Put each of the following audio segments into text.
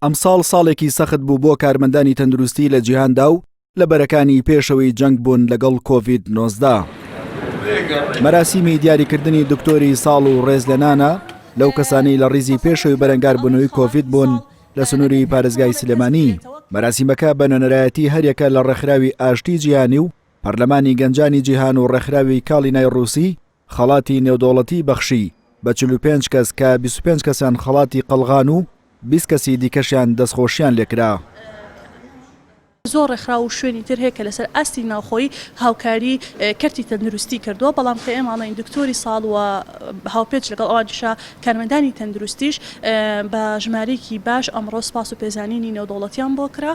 ئەمساڵ ساڵێکی سەخت بوو بۆ کارمەندانی تەندروستی لە جیهاندا و لە بەرەکانی پێشەوەی جەنگ بوون لەگەڵ کۆڤید نۆزدە. مەراسیمی دیاریکردنی دکتۆری ساڵ و ڕێز لە نانە لەو کەسانی لە ڕیزی پێشەوەی بەرەنگاربوونەوەی کۆڤید بوون لە سنووری پارێزگای سلێمانی مەراسیمەکە بە نوێنەرایەتی هەریەکە لە ڕێکخراوی ئاشتی جیهانی و پەرلەمانی گەنجانی جیهان و ڕێکخراوی کاڵینای ڕووسی خەڵاتی نێودەوڵەتی بەخشی بە چل و پێنج کەس کە بیست و پێنج کەسیان خەڵاتی قەڵغان و بیست کەسی دیکەشیان دەستخۆشییان لێ کرا. زۆر ڕێکخراو و شوێنی تر هەیە کە لەسەر ئاستی ناوخۆیی هاوکاری کەرتی تەندروستی کردووە، بەڵام کە ئێمە ئەڵێین دکتۆری ساڵ و هاوپێچ لەگەڵ ئەوانیشا، کارمەندانی تەندروستیش بە ژمارەیەکی باش ئەمڕۆ سپاس و پێزانینی نێودەوڵەتیان بۆ کرا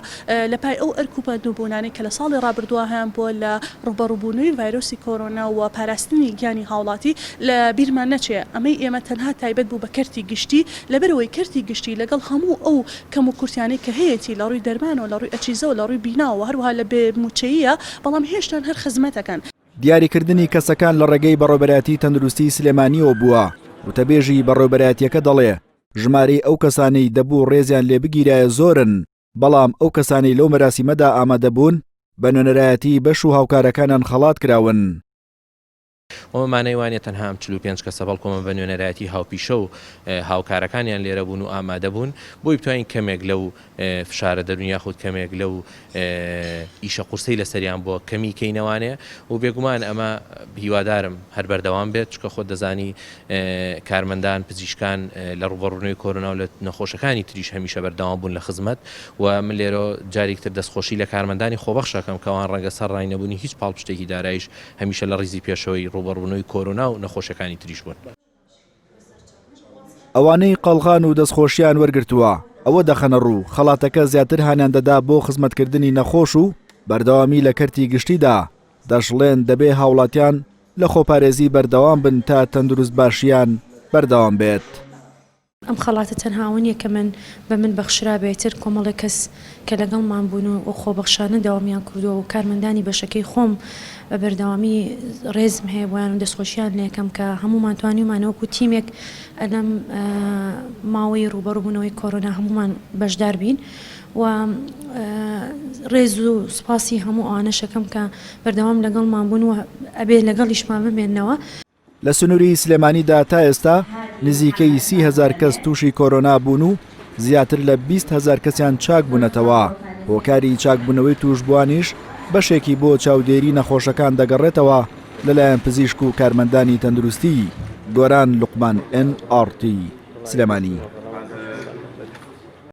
لە پای ئەو ئەرک و بەندوبونانەی کە لە ساڵی ڕابردوە هەیان بوە لە ڕوبەڕوبونەوەی ڤایرۆسی کۆرۆنا و پاراستنی گیانی هاوڵاتی لە بیرمان نەچێ ئەمەی ئێمە تەنها تایبەت بو بە کەرتی گشتی لەبەرئەوەی کەرتی گشتی لەگەڵ هەمو ئەو کەم و کورتیانەی کە هەیەتی لە ڕوی دەرمانەوە لە ڕوی ئەچیزەوە لە ڕوی بیناوە هەروەها لە بێ موچەییە بەڵام هێشتان هەر خزمەتەکەن دیاریکردنی کەسەکان لە ڕێگەی بەڕێوەبەرایەتی تەندروستیی سلێمانییەوە بووە، وتەبێژی بەڕێوەبەرایەتییەکە دەڵێ، ژمارەی ئەو کەسانەی دەبوو ڕێزیان لێ بگیرایە زۆرن، بەڵام ئەو کەسانەی لەو مەراسیمەدا ئامادە بوون بە نوێنەرایەتیی بەش و هاوکارەکانیان خەڵات کراون. ئەمە مانای وانیە تەنها ئەم چل و پێنج کەسە، بەڵکو ئەمە بە نوێنەرایەتیی هاوپیشە و هاوکارەکانیان لێرە بوون و ئامادە بوون، بۆی بتوانین کەمێک لەو فشارە دەرونی یاخود کەمێک لەو ئیشە قورسەی لەسەریان بووە کەمی کەینەوانێ و بێگومان ئەمە هیوادارم هەر بەردەوام بێت چکە خۆت دەزانی کارمەندان پزیشکان لە ڕوبەڕونەوەی کۆرۆنا و لە نەخۆشەکانی تریش هەمیشە بەردەوام بوون لە خزمەت و من لێرۆ جاریک تر دەستخۆشی لە کارمەندانی خۆبەخشەکەم کەوان ڕەنگە سەر ڕای نەبونی هیچ پاڵپشتێکی دارایش هەمیشە لە ڕیزی پێشەوەی ڕوبەڕونەوەی کۆرۆنا و نەخۆشەکانی تریش بوون. ئەوانەی قەڵغان و دەستخۆشیان وەرگرتووە ئەوە دەخەنە ڕوو، خەڵاتەکە زیاتر هانیان دەدا بۆ خزمەتکردنی نەخۆش و بەردەوامی لە کەرتی گشتیدا، دەشڵێن دەبێ هاوڵاتیان لە خۆپارێزی بەردەوام بن تا تەندروستباشییان بەردەوام بێت. ئەم خەڵاتە تەنها ئەوە نییە کە من بە من بەخشرابێ، ئیتر کۆمەڵێک کەس کە لەگەڵمان بوون و و خۆبەخشانە دەوامیان کردووە و کارمەندانی بەشەکەی خۆم بە بەردەوامی ڕێزم هەیە بۆیان و دەستخۆشییان لێکەم کە هەموومان توانیومانە وەکوو تیمێک لەم ماوەی ڕووبەڕووبوونەوەی کۆرۆنا هەموومان بەشدار بین و ڕێز و سوپاسی هەموو ئەوانەش ئەکەم کە بەردەوام لەگەڵمان بوون و ئەبێ لەگەڵیشمان بمێنەوە. لە سنووری سلێمانیدا تا ئێستا نزیکەی سی هەزار کەس تووشی کۆرۆنا بوون و زیاتر لە بیست هەزار کەسیان چاک بوونەتەوە، هۆکاری چاکبوونەوەی تووشبووانیش بەشێکی بۆ چاودێری نەخۆشەکان دەگەڕێتەوە لەلایەن پزیشک و کارمەندانی تەندروستی. گۆران لوقمان، ئێن ئاڕ تی، سلێمانی.